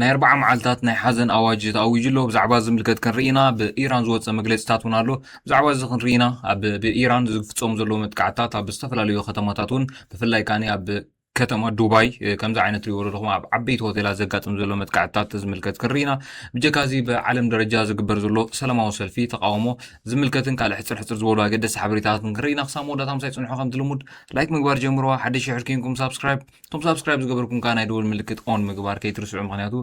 ናይ ኣርብዓ መዓልታት ናይ ሓዘን ኣዋጅ ተኣዊጁ ኣሎ። ብዛዕባ ዝምልከት ክንርኢ ኢና። ብኢራን ዝወጸ መግለጺታት እውን ኣሎ። ብዛዕባ እዚ ክንርኢ ኢና። ኣብ ብኢራን ዝፍጸሙ ዘለዉ መጥቃዕትታት ኣብ ዝተፈላለዩ ከተማታት እውን ብፍላይ ከኣ ኣብ ከተማ ዱባይ ከምዚ ዓይነት ትሪእዎ ዘለኹም ኣብ ዓበይቲ ሆቴላት ዘጋጥም ዘሎ መጥቃዕትታት ዝምልከት ክንርኢ ኢና። ብጀካ እዚ ብዓለም ደረጃ ዝግበር ዘሎ ሰላማዊ ሰልፊ ተቃውሞ ዝምልከትን ካልእ ሕጽር ሕጽር ዝበሉ ኣገደስቲ ሓበሬታታትን ክንርኢ ኢና። ክሳብ መወዳእታ ምሳይ ጽንሑ ከምቲ ልሙድ ላይክ ምግባር ጀምርዋ። ሓደሽ ሽሕር ኬንኩም ሳብስክራይብ እቶም ሳብስክራይብ ዝገበርኩም ከዓ ናይ ደወል ምልክት ኦን ምግባር ከይትርስዑ ምክንያቱ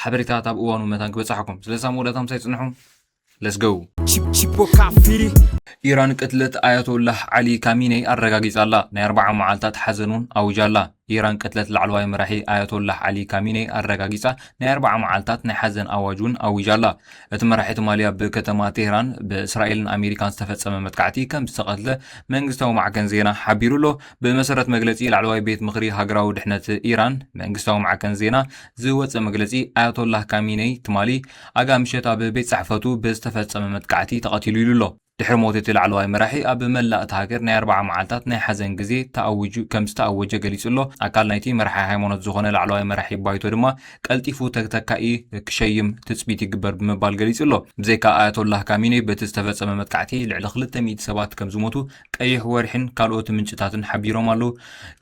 ሓበሬታት ኣብ እዋኑ መታን ክበፅሓኩም ስለዚ ኣብ መወዳእታ ምሳይ ፅንሑ ለስገው ኢራን ቅትለት ኣያቶላህ ዓሊ ካሚነይ ኣረጋጊጻላ ናይ ኣርባዓ መዓልታት ሓዘን እውን ኣውጃላ ኢራን ቅትለት ላዕለዋይ መራሒ ኣያቶላህ ዓሊ ካሚነይ ኣረጋጊጻ ናይ ኣርባዓ መዓልታት ናይ ሓዘን ኣዋጅ እውን ኣዊጃላ እቲ መራሒ ትማሊ ኣብ ከተማ ቴህራን ብእስራኤልን ኣሜሪካን ዝተፈጸመ መጥቃዕቲ ከም ዝተቐትለ መንግስታዊ ማዕከን ዜና ሓቢሩ ኣሎ ብመሰረት መግለጺ ላዕለዋይ ቤት ምኽሪ ሃገራዊ ድሕነት ኢራን መንግስታዊ ማዕከን ዜና ዝወጸ መግለጺ ኣያቶላህ ካሚነይ ትማሊ ኣጋ ምሸት ኣብ ቤት ጽሕፈቱ ብዝተፈጸመ መጥቃዕቲ ተቐቲሉ ኢሉ ኣሎ። ድሕሪ ሞት እቲ ላዕለዋይ መራሒ ኣብ መላእ እታ ሃገር ናይ ኣርብዓ መዓልታት ናይ ሓዘን ግዜ ተኣዊጁ ከም ዝተኣወጀ ገሊጹ ኣሎ። ኣካል ናይቲ መራሒ ሃይማኖት ዝኾነ ላዕለዋይ መራሒ ባይቶ ድማ ቀልጢፉ ተተካኢ ክሸይም ትጽቢት ይግበር ብምባል ገሊጹ ኣሎ። ብዘይካ ኣያቶላህ ካሚነይ በቲ ዝተፈጸመ መጥቃዕቲ ልዕሊ ክልተ ሚእቲ ሰባት ከም ዝሞቱ ቀይሕ ወርሒን ካልኦት ምንጭታትን ሓቢሮም ኣለዉ።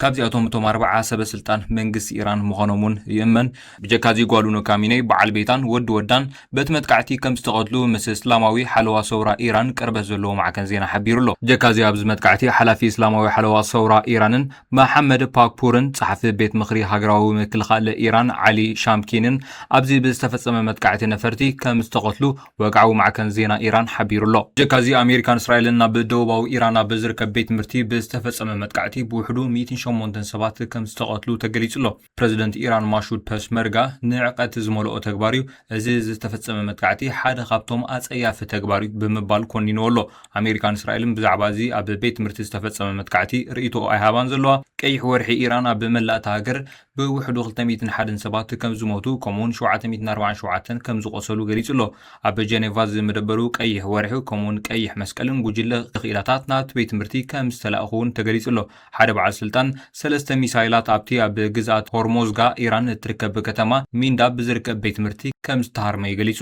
ካብዚኣቶም እቶም ኣርብዓ ሰበ ስልጣን መንግስቲ ኢራን ምዃኖም እውን ይእመን። ብጀካዚ ጓሉ ንካሚነይ፣ በዓል ቤታን ወዲ ወዳን በቲ መጥቃዕቲ ከም ዝተቐትሉ ምስ እስላማዊ ሓለዋ ሰውራ ኢራን ቅርበት ዘለዎ ማዕከን ዜና ሓቢሩ ኣሎ። ብጀካዚ ኣብዚ መጥቃዕቲ ሓላፊ እስላማዊ ሓለዋ ሰውራ ኢራንን መሓመድ ፓክፑርን ጸሓፊ ቤት ምኽሪ ሃገራዊ ምክልኻል ኢራን ዓሊ ሻምኪንን ኣብዚ ብዝተፈጸመ መጥቃዕቲ ነፈርቲ ከም ዝተቐትሉ ወግዓዊ ማዕከን ዜና ኢራን ሓቢሩ'ሎ። ብጀካ'ዚ ኣሜሪካን እስራኤልን ናብ ደቡባዊ ኢራን ኣብ ዝርከብ ቤት ትምህርቲ ብዝተፈጸመ መጥቃዕቲ ብውሕዱ ሚእትን ሸሞንተን ሰባት ከም ዝተቐትሉ ተገሊጹ'ሎ። ፕረዚደንት ኢራን ማሹድ ፐስመርጋ ንዕቀት ዝመልኦ ተግባር'ዩ፣ እዚ ዝተፈጸመ መጥቃዕቲ ሓደ ካብቶም ኣጸያፊ ተግባር'ዩ ብምባል ኮኒንዎ'ሎ። ኣሜሪካን እስራኤልን ብዛዕባ እዚ ኣብ ቤት ትምህርቲ ዝተፈጸመ መጥቃዕቲ ርእይቶኦ ኣይሃባን ዘለዋ። ቀይሕ ወርሒ ኢራን ኣብ መላእ'ታ ሃገር ብውሕዱ ክልተ ሚእትን ሓደን ሰባት ከም ዝሞቱ ከምኡ'ውን ሸውዓተ ሚእትን ኣርባዓን ሸውዓተን ከም ዝቖሰሉ ገሊጹ ኣሎ። ኣብ ጀኔቫ ዝምደበሩ ቀይሕ ወርሒ ከምኡ'ውን ቀይሕ መስቀልን ጉጅለ ክኢላታት ናብቲ ቤት ትምህርቲ ከም ዝተላእኩ'ውን ተገሊጹ ኣሎ። ሓደ በዓል ስልጣን፣ ሰለስተ ሚሳይላት ኣብቲ ኣብ ግዝኣት ሆርሞዝጋ ኢራን እትርከብ ከተማ ሚንዳብ ዝርከብ ቤት ትምህርቲ ከም ዝተሃርመዩ ገሊጹ።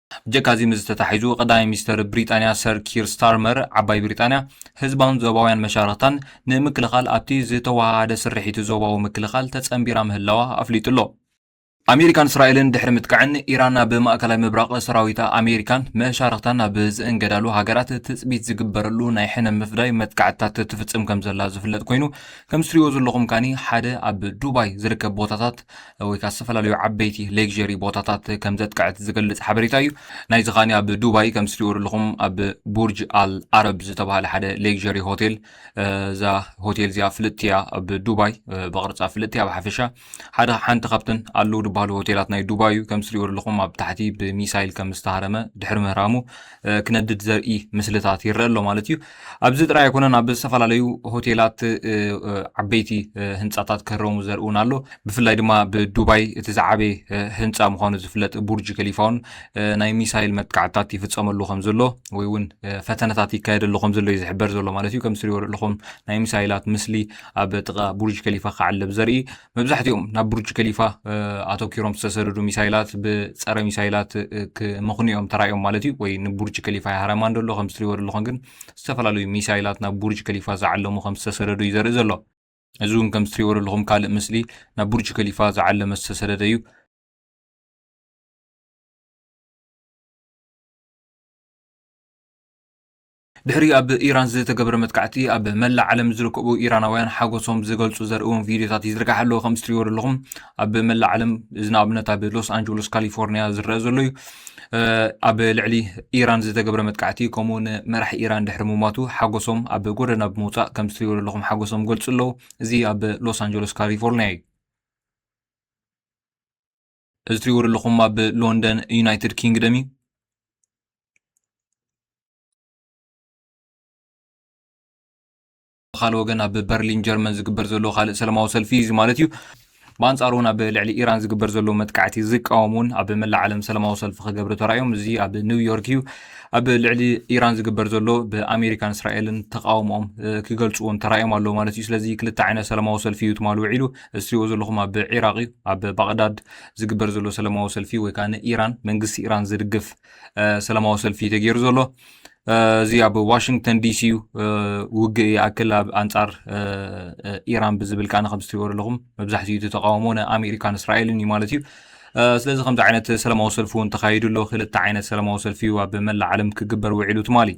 ብጀካ'ዚ ምስዚ ተታሒዙ ቀዳማይ ሚኒስተር ብሪጣንያ ሰር ኪር ስታርመር ዓባይ ብሪጣንያ ህዝባን ዞባውያን መሻርኽታን ንምክልኻል ኣብቲ ዝተወሃሃደ ስርሒት ዞባዊ ምክልኻል ተጸንቢራ ምህላዋ ኣፍሊጡ'ሎ። ኣሜሪካን እስራኤልን ድሕሪ ምጥቃዕን፣ ኢራን ናብ ማእከላይ ምብራቕ ሰራዊታ ኣሜሪካን መሻርኽታን ናብ ዝእንገዳሉ ሃገራት ትጽቢት ዝግበረሉ ናይ ሕነ ምፍዳይ መጥቃዕትታት ትፍጽም ከምዘላ ዝፍለጥ ኮይኑ፣ ከም ዝትሪእዎ ዘለኹም ካኒ ሓደ ኣብ ዱባይ ዝርከብ ቦታታት ወይ ከዓ ዝተፈላለዩ ዓበይቲ ሌክዠሪ ቦታታት ከም ዘጥቀዐት ዝገልጽ ሓበሬታ እዩ ናይዚ ከኣ ኣብ ዱባይ ከም ትሪእዎ ዘለኹም ኣብ ቡርጅ ኣል ኣረብ ዝተባሃለ ሓደ ሌክዠሪ ሆቴል እዛ ሆቴል እዚኣ ፍልጥቲ እያ ኣብ ዱባይ ብቕርፃ ፍልጥቲ እያ ብሓፈሻ ሓደ ሓንቲ ካብተን ኣለዉ ዝበሃሉ ሆቴላት ናይ ዱባይ እዩ ከም ትሪእዎ ዘለኹም ኣብ ታሕቲ ብሚሳይል ከም ዝተሃረመ ድሕሪ ምህራሙ ክነድድ ዘርኢ ምስልታት ይረአ ኣሎ ማለት እዩ። ኣብዚ ጥራይ ኣይኮነን ኣብ ዝተፈላለዩ ሆቴላት ዓበይቲ ህንፃታት ክህረሙ ዘርኢ እውን ኣሎ። ብፍላይ ድማ ብዱባይ እቲ ዝዓበየ ህንፃ ምዃኑ ዝፍለጥ ቡርጅ ከሊፋ እውን ናይ ሚሳይል መጥቃዕትታት ይፍፀመሉ ከም ዘሎ ወይ እውን ፈተነታት ይካየደሉ ከም ዘሎ እዩ ዝሕበር ዘሎ ማለት እዩ። ከም ትሪእዎ ዘለኹም ናይ ሚሳይላት ምስሊ ኣብ ጥቓ ቡርጅ ከሊፋ ክዓለብ ዘርኢ መብዛሕትኦም ናብ ቡርጅ ከሊፋ ኣተኪሮም ዝተሰደዱ ሚሳይላት ብፀረ ሚሳይላት ክመኽኑ እዮም ተራእዮም ማለት እዩ ወይ ንቡርጅ ከሊፋ ይሃረማ እንደሎ ከም ዝትሪእዎ ዘለኹም ግን ዝተፈላለዩ ሚሳይላት ናብ ቡርጅ ከሊፋ ዝዓለሙ ከም ዝተሰደዱ እዩ ዘርኢ ዘሎ እዚ እውን ከም ዝትሪእዎ ዘለኹም ካልእ ምስሊ ናብ ቡርጅ ከሊፋ ዝዓለመ ዝተሰደደ እዩ ድሕሪ ኣብ ኢራን ዝተገብረ መጥቃዕቲ ኣብ መላእ ዓለም ዝርከቡ ኢራናውያን ሓጎሶም ዝገልጹ ዘርእዎም ቪድዮታት ይዝርጋሕ ኣለዎ ከም ትሪእዎ ዘለኹም ኣብ መላእ ዓለም እዚ ንኣብነት ኣብ ሎስ ኣንጀሎስ ካሊፎርኒያ ዝረአ ዘሎ እዩ ኣብ ልዕሊ ኢራን ዝተገብረ መጥቃዕቲ ከምኡ እውን መራሕ ኢራን ድሕሪ ምሟቱ ሓጎሶም ኣብ ጎደና ብምውፃእ ከም ዝትሪእዎ ዘለኹም ሓጎሶም ገልፁ ኣለዉ እዚ ኣብ ሎስ ኣንጀሎስ ካሊፎርኒያ እዩ እዚ ትሪእዎ ዘለኹም ኣብ ሎንደን ዩናይትድ ኪንግደም እዩ። ብካልእ ወገን ኣብ በርሊን ጀርመን ዝግበር ዘሎ ካልእ ሰላማዊ ሰልፊ እዚ ማለት እዩ። ብኣንጻሩ እውን ኣብ ልዕሊ ኢራን ዝግበር ዘሎ መጥቃዕቲ ዝቃወሙ እውን ኣብ መላእ ዓለም ሰላማዊ ሰልፊ ክገብሩ ተራእዮም። እዚ ኣብ ኒውዮርክ እዩ። ኣብ ልዕሊ ኢራን ዝግበር ዘሎ ብኣሜሪካን እስራኤልን ተቃውሞኦም ክገልፁ እውን ተራእዮም ኣለዉ ማለት እዩ። ስለዚ ክልተ ዓይነት ሰላማዊ ሰልፊ እዩ ትማል ውዒሉ። እትሪእዎ ዘለኹም ኣብ ዒራቕ እዩ ኣብ ባቕዳድ ዝግበር ዘሎ ሰለማዊ ሰልፊ ወይ ከዓ ንኢራን መንግስቲ ኢራን ዝድግፍ ሰለማዊ ሰልፊ ተገይሩ ዘሎ እዚ ኣብ ዋሽንግተን ዲሲ እዩ ውግእ ይኣክል ኣብ ኣንጻር ኢራን ብዝብል ከዓነ ከም ዝትሪእዎ ዘለኹም መብዛሕትኡ እቲ ተቃውሞ ንኣሜሪካን እስራኤልን እዩ ማለት እዩ ስለዚ ከምዚ ዓይነት ሰለማዊ ሰልፊ እውን ተካይዱ ኣሎ ክልተ ዓይነት ሰለማዊ ሰልፊ እዩ ኣብ መላእ ዓለም ክግበር ውዒሉ ትማሊ